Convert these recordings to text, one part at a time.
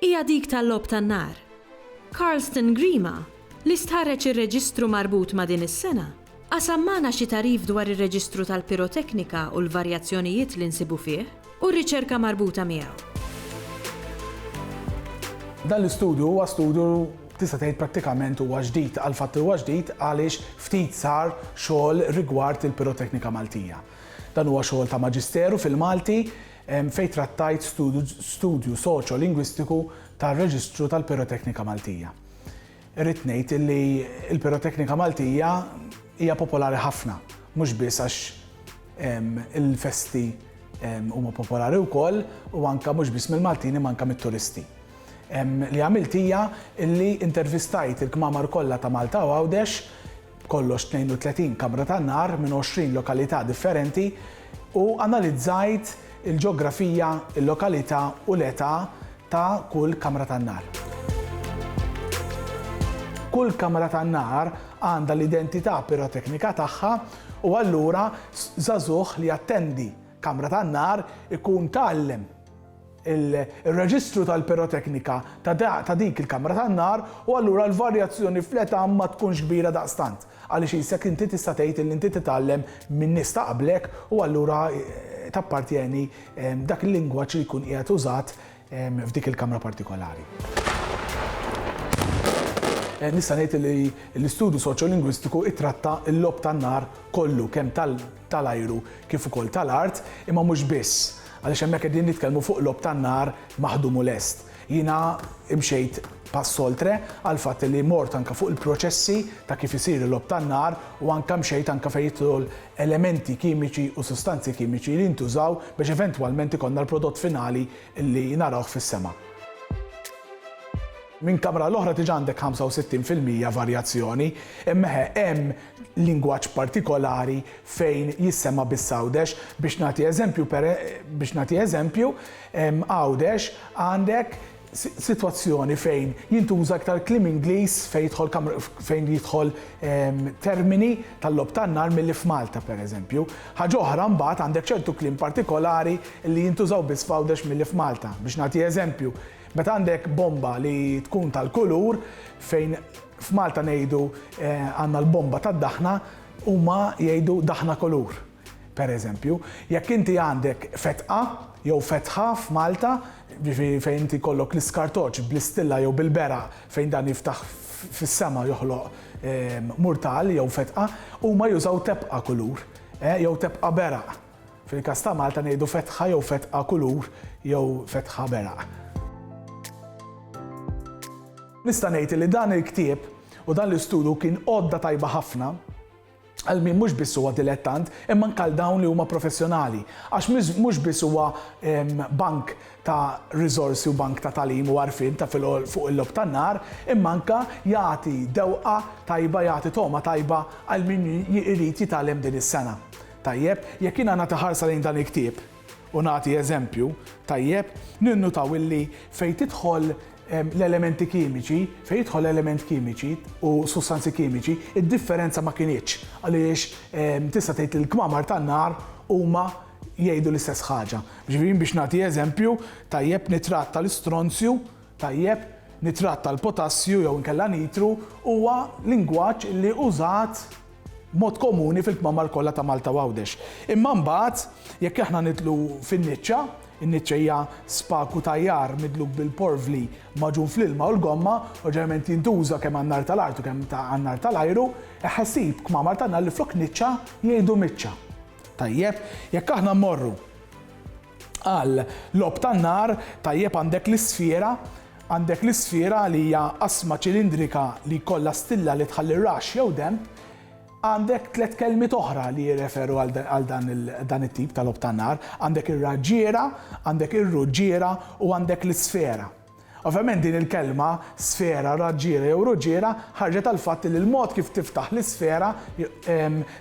hija dik tal-logħob tan-nar. Carlston Grima, li stħarreġ ir-reġistru marbut ma' din is-sena, qasam magħna xi tagħrif dwar ir-reġistru tal-piroteknika u l-varjazzjonijiet li nsibu fih u r-riċerka marbuta miegħu. Dan l-istudju huwa studju tista' tgħid prattikament huwa ġdid. Għall-fatt huwa ġdid għaliex ftit sar xogħol rigward il-piroteknika Maltija. Dan huwa xogħol ta' maġisteru fil-Malti fejn trattajt studju soċjo-lingwistiku tar-Reġistru tal-Piroteknika Maltija. Irrid ngħid illi l-piroteknika Maltija hija popolari ħafna, mhux biss għax il-festi huma popolari wkoll u anke mhux biss mill-Maltin imma anke mit-turisti. Li għamilt hija illi intervistajt il-kmamar kollha ta' Malta u Għawdex b'kollox 32 kamra tan-nar minn 20 lokalità differenti, u analizzajt il-ġeografija, il-lokalità u l-età ta' kull kamra tan-nar. Kull kamra tan-nar għandha l-identità piroteknika tagħha u allura żagħżugħ li jattendi kamra tan-nar ikun tgħallem, ir-reġistru tal-piroteknika ta' dik il-kamra tan-nar u allura l-varjazzjoni fl-età ma tkunx kbira daqstant għaliex qisek inti tista' tgħid illi inti titgħallem minn nies ta' qablek u allura tappartjeni dak il-lingwaġġ li jkun qiegħed użat f'dik il-kamra partikolari. Nista' ngħid illi l-istudju soċjolingwistiku ittratta l-logħob tan-nar kollu kemm tal tal-ajru kif ukoll tal-art, imma mhux biss, għaliex hemmhekk qegħdin nitkellmu fuq logħob tan-nar maħdum u lest. Jiena imxejt pass oltre għall-fatt li mort anke fuq il-proċessi ta' kif isir il-logħob tan-nar u anke mxejt anke fejn jidħlu elementi kimiċi u sustanzi kimiċi li jintużaw biex eventwalment ikollna l-prodott finali li narawh fis-sema. Minn kamra għall-oħra diġà għandek 65 fil-mija varjazzjoni, imma eħe, hemm lingwaġġ partikolari fejn jissema' biss Għawdex. Biex nagħti eżempju, biex nagħti eżempju, Għawdex għandek sitwazzjoni fejn jintuża iktar kliem Ingliż fejn jidħol fejn jidħol termini tal-logħob tan-nar milli f'Malta pereżempju. Ħaġa oħra mbagħad għandek ċertu kliem partikolari li jintużaw biss f'Għawdex milli f'Malta. Biex nagħti eżempju, meta għandek bomba li tkun tal-kulur fejn F'Malta ngħidu għandna l-bomba tad-daħna, huma jgħidu daħna kulur. Per eżempju, jekk inti għandek fetqa jew fetħa f'Malta, jiġifieri fejn inti jkollok l-iskartoċ bl-istilla jew bil-beraq fejn dan jiftaħ fis-sema joħloq murtal jew fetqa, huma jużaw tepqa kulur jew tepqa beraq. Fil-każ ta' Malta ngħidu fetħa jew fetqa kulur jew fetħa beraq. Nista' ngħid li dan il-ktieb u dan l-istudju kien għodda tajba ħafna għal min mhux biss huwa dilettant, imma anke għal dawn li huma professjonali. Għax mhux biss huwa ehm, bank ta' riżorsi u bank ta' talim u għarfien ta' fuq il-lob tan-nar, imma anke jagħti dewqa tajba, jagħti toma tajba għal min irid jitalem din is-sena. Tajjeb, jekk jiena nagħti ħarsa lejn dan il-ktieb u nagħti eżempju, tajjeb, ninnutaw illi fejn tidħol l-elementi kimiċi, fejn jidħol element kimiċi u sustanzi kimiċi, id-differenza ma kinitx għaliex tista' tgħid li l-kmamar tan-nar huma jgħidu l-istess ħaġa. Ġifieri biex nagħti eżempju, tajjeb nitrat tal-istronzju, tajjeb nitrat tal-potassju jew inkella nitru huwa lingwaġġ li użat b'mod komuni fil-kmamar kollha ta' Malta u Għawdex. Imma mbagħad, jekk aħna nidħlu fin-niċċa, in-niċċa hija spaku ta' għajjar midluk bil-porvli magħġun fl-ilma u l-gomma u ġeneralment jintuża kemm għan-nar tal-art u kemm ta' għan-nar tal-ajru, eħħ ssib kmamar tan-nar li flok niċċa jgħidu miċċa. Tajjeb, jekk aħna mmorru. Għal logħob tan-nar, tajjeb għandek l-isfjera, għandek l-isfjera li hija qasma ċilindrika li jkollha stilla li tħalli raxx jew denb, għandek tliet kelmiet oħra li jirreferu għal dan it-tip ta' logħob tan-nar, għandek ir-raġġiera, għandek ir-ruġġiera u għandek l-isfera. Ovvjament din il-kelma, sfera, raġġiera jew ruġiera, ħarġet għall-fatt li l-mod kif tiftaħ l-isfera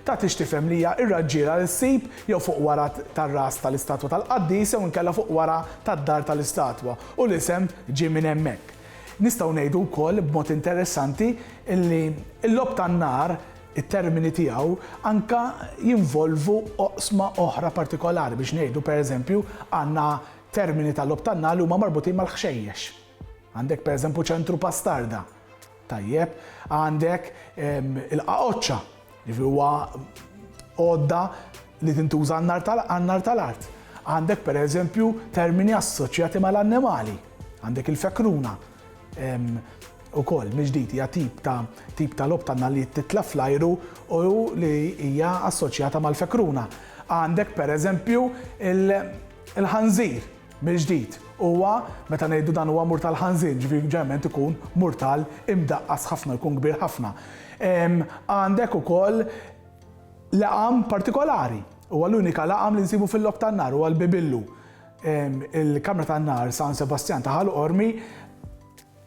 tagħtix tifhem li hija r-raġġiera li ssib jew fuq wara tar-ras tal-istatwa tal-qaddis jew inkella fuq wara tad-dar tal-istatwa u l-isem ġie minn hemmhekk. Nistgħu ngħidu wkoll, b'mod interessanti, li l-logħob tan-nar, it-termini tiegħu, anke jinvolvu oqsma oħra partikolari. Biex ngħidu, pereżempju, għandna Termini ta' logħob tan-nagħal huma marbutin mal-ħxejjex. Għandek pereżempju ċentru pastarda. Tajjeb, għandek il-qaqoċċa, jiġifieri huwa għodda li tintuża għan-nar tal-art. Għandek pereżempju termini assoċjati mal-annimali. Għandek il-fekruna ukoll mill-ġdid hija tip ta' tip ta' logħob tan-nagħal li titla' fl-ajru u li hija assoċjata mal-fekruna. Għandek pereżempju il- Il-ħanżir, mill-ġdid, huwa, meta ngħidu dan huwa murtal ħanżir, jiġifieri ġeneralment ikun murtal imdaqqas ħafna, jkun kbir ħafna. Għandek ukoll laqam partikolari. Huwa l-unika laqam li nsibu fil-logħob tan-nar, huwa l-bibillu. Il-kamra tan-nar San Sebastjan ta' Ħal Qormi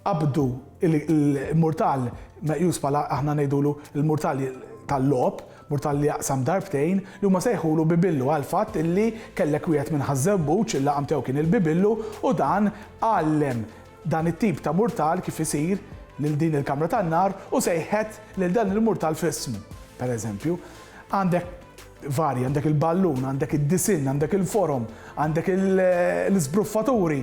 Qabdu l-murtal meqjus bħala, aħna ngħidulu, l-murtal tal-logħob, murtal li jaqsam darbtejn, li huma sejħulu bibillu għall-fatt illi kellek wieħed minn Ħaż-Żewbuġ, il-laqam tiegħu kien il-bibillu, u dan għallem dan it-tip ta' murtal kif isir lil din il-kamra tan-nar u sejħet lil dan il-murtal f'ismu, pereżempju. Għandek varji, għandek il-ballun, għandek id-disinn, għandek il-forom, għandek l-iżbruffaturi.